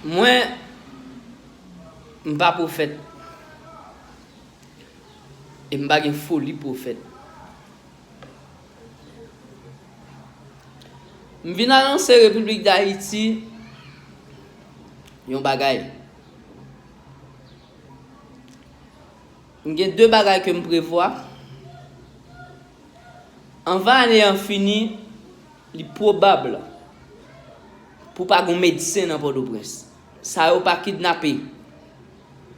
Mwen M pa pwofèt e m pa gen foli pwofèt. M vin anonse Repiblik Dayiti yon bagay. M gen 2 bagay ke m prevwa. Anvan ane an fini, li pwobab pou pa gon medsen nan Pòtoprens. Sa yo pa kidnape,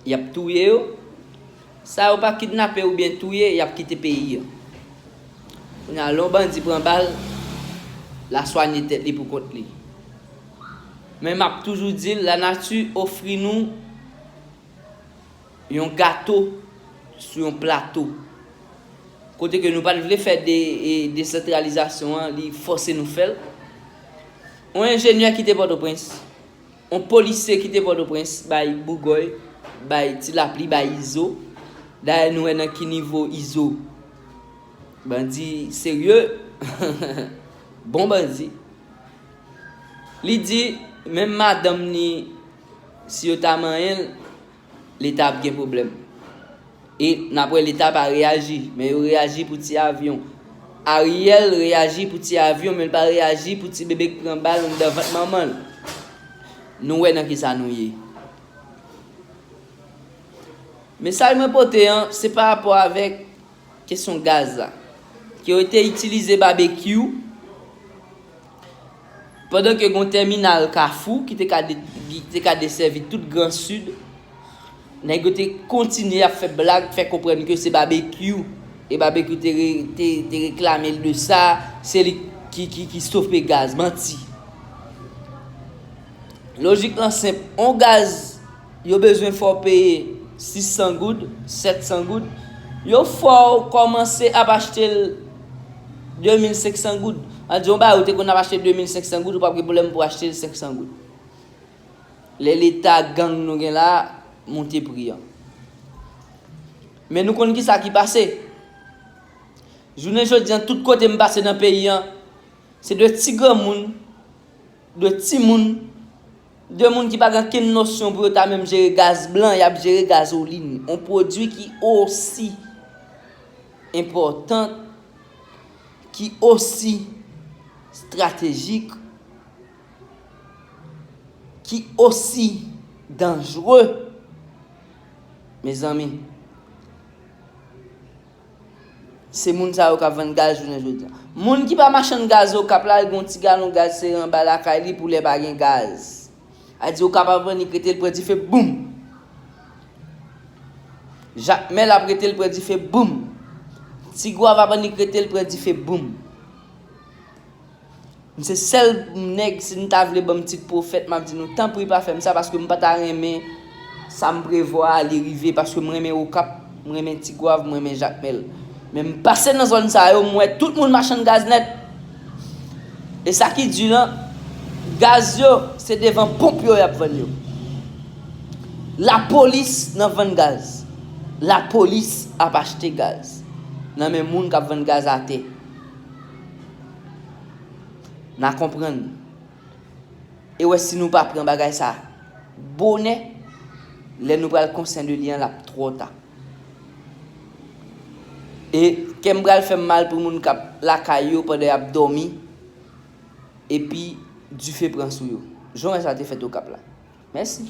y ap touye yo. Sa yo pa kidnape oubyen touye, y ap kite peyi an. Kounye a, lè yon bandi pran bal, l a swanye tèt li pou kont li. Men m ap toujou di l, lanati ofri nou. Yon gato sou yon plato. Kote ke nou pat vle fè desantralizasyon an, li fòse nou fèl. Yon enjenyè kite Pòtoprens, yon polisye kite Pòtoprens bay Bougòy, bay Ti Lapli, bay Izo. Dayè nou wè nan ki nivo Izo bandi serye, bon bandi. Li di menm madanm ni. Si yo ta manyen l, leta ap gen pwoblèm. E nap wè leta pa reyaji, men yo reyaji pou ti avyon. Ariel reyaji pou ti avyon men l pa reyaji pou ti bebe k pran bal anndan vant manman l. Nou wè nan kisa nou ye. Mesaj mwen pote an, se pa rapò avèk kesyon gaz la. Ke yo te itilize babekyou, Pandan ke gen yon tèminal Kafou ki te ka desèvi tout gran Sid, nèg yo te kontinye ap fè blag, fè konprann ke se Babekyou, e Babekyou te reklame l de sa, se li ki stope gaz. Manti. Lojik lan senp, on gaz. Yo bezwen fè w peye 600 goud, 700 goud. Yo fè w kòmanse ap achte l 2500 goud. An di yon bagay ou te konn ap achte l 2500 goud, ou pap gen pwoblèm pou w achte l 500 goud. Lè leta gang nou gen la a monte pri an. Men nou konn kisa ki pase. Jounen jodi an tout kote m pase nan peyi an, se de ti granmoun, de timoun. 2 moun ki pa gen kenn nosyon pou yo ta menm jere gaz blan, y ap jere gazolin, yon pwodui ki osi enpòtan, ki osi stratejik, ki osi danjre, mezanmi. Se moun sa yo kap vann gaz jounen jodia. Moun ki pa machann gaz okap la li gen yon ti galon gaz sere anba lakay li pou lè pa gen gaz. A di okap ap vann li k rete l pre dife boum. Jakmèl ap rete l pre dife boum. Ti gwav ap vann li k rete l pre dife boum. M se sèl nèg si nou ta vle banm tit pwofèt map di nou tanpri pa fèm sa paske m pa ta renmen sam prevwa a li rive paske m renmen okap m renmen tigwav m renmen jakmèl men m pase nan zòn sa yo m wè tout moun machann gaz nèt e sa ki di lan gaz yo se devan ponp yo yap vann yo lapolis nan vann gaz lapolis ap achte gaz nan men moun kap vann gaz atè. Na konprann. E wè si nou pa pran bagay sa bonè, lè nou pral konsyen de li an l ap twò ta. E kè m pral fè m mal pou moun k ap lakay yo pandan y ap dòmi epi dife pran sou yo, jan wè sa te fèt Okap la. Mèsi.